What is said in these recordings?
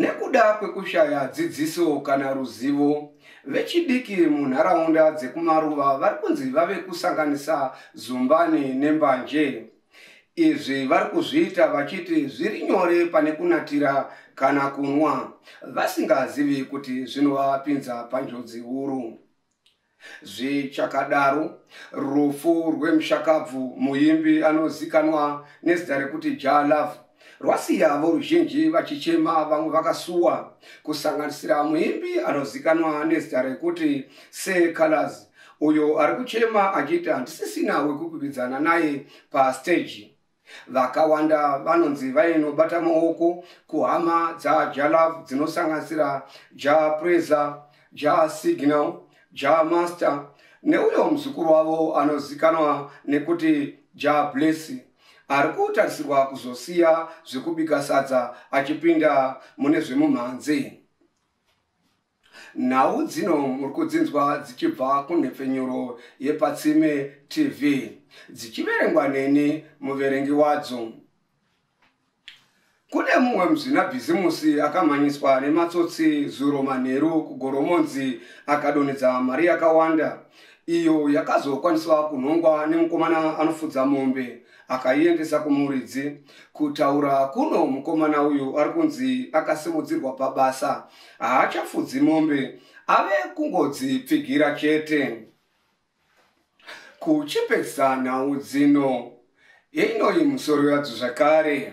Nekuda kwekushaya dzidziso kana ruzivo, vechidiki munharaunda dzekumaruva vari kunzi vave kusanganisa zumbani nembanje. Izvi vari kuzviita vachiti zviri nyore pane kunatira kana kunwa, vasingazivi kuti zvinovapinza panjodzi huru. Zvichakadaro, rufu rwemushakabvu muimbi anozikanwa nezita rekuti Jah Love rwasiya voruzhinji vachichema vamwe vakasuwa kusanganisira muimbi anozikanwa nezita rekuti Sir Calaz uyo ari kuchema achiti handisisina wekukwikwidzaana naye pasteji. Vakawanda vanonzi vainobata maoko kuhama dzaJalav dzinosanganisira Ja Preza, Ja Signal, Ja Master neuyo muzukuru wavo anozikanwa nekuti Ja Blessy ari kutarisirwa kuzosiya zvekubika sadza achipinda mune zvemumhanzi. Nhau dzino muri kudzinzwa dzichibva kunhepfenyuro yePatsime TV dzichiverengwa neni muverengi wadzo. Kune mumwe muzvinabhizimusi akamhanyiswa nematsotsi zuro manheru kugoromonzi akadonhedza mari yakawanda iyo yakazokwaniswa kunhongwa nemukomana anofudza mombe akaiendesa kumuridzi kutaura kuno mukomana uyu ari kunzi akasimudzirwa pabasa haachafudzi mombe ave kungodzipfigira chete kuchipedzisa nhau dzino yeinoyi musoro yadzo zvakare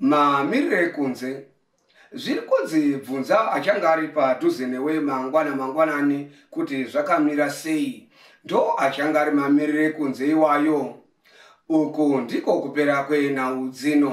Mamiriro ekunze zviri kunzi bvunza achanga ari padhuze newe mangwana mangwanani kuti zvakamira sei ndo achanga ari mamiriro ekunze iwayo uku ndiko kupera kwenhau dzino